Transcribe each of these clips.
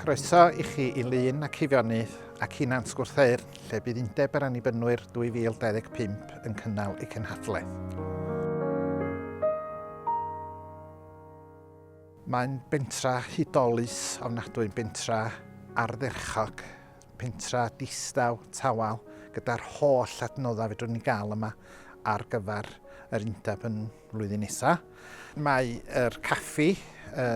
Croeso i chi i Lyn ac Eifionydd ac i Nant Gwrtheyrn, lle bydd Undeb yr Annibynwyr 2025 yn cynnal ei cenhadledd. Mae'n bentra hudolus ofnadwy, bentra ardderchog, pentra distaw, tawel, gyda'r holl adnoddau fedrwn ni gael yma ar gyfer yr undeb yn flwyddyn nesaf. Mae yr caffi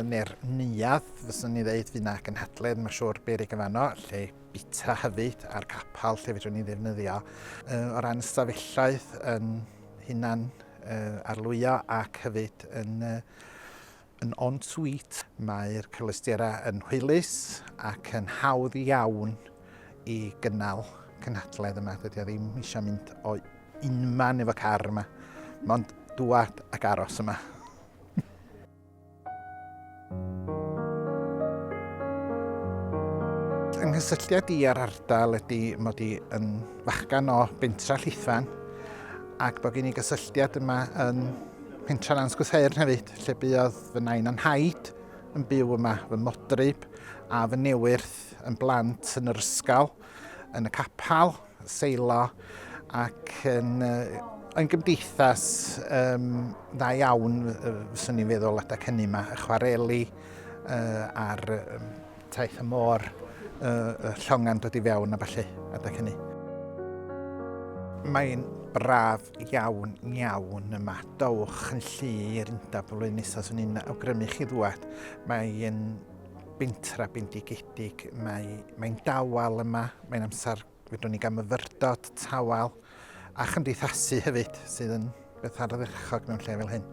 neu'r neuadd, fyswn ni ddeud, fydd yna gynhadledd, mae'n siŵr berig yn fanno, lle bita hefyd, a'r capel lle fedrwn ni ddefnyddio. O ran ystafelloedd yn hunan arlwyo ac hefyd yn Yn en-suite, mae'r cyfleusterau yn hwylus ac yn hawdd iawn i gynnal cynhadledd yma. Dydy o ddim eisiau mynd o unman efo car yma, mond dŵad ac aros yma. Yng nghysylltiad i ar ardal ydy mod i yn fachgan o bentra Llithfaen ac bod gen i gysylltiad yma yn Pentref Ansgwthern hefyd, lle buodd fy nain a'n nhaid yn byw yma, fy modryb a fy newyrth yn blant yn yr ysgol, yn y capel, seilo ac yn uh, yn gymdeithas um, dda iawn, fyswn i'n feddwl, adeg hynny yma, y chwareli uh, a'r um, Taith y môr, y llonga'n dod i fewn a falle, adeg hynny. Mae'n braf iawn, iawn yma. Dowch yn llu i'r undaf flwyddyn nesaf, swn i'n awgrymu chi ddwad. Mae'n bentra bendigedig, mae'n mae dawel yma, mae'n amser Fedrwn ni gael myfyrdod, tawel a chymdeithasu hefyd sydd yn beth ardderchog mewn lle fel hyn.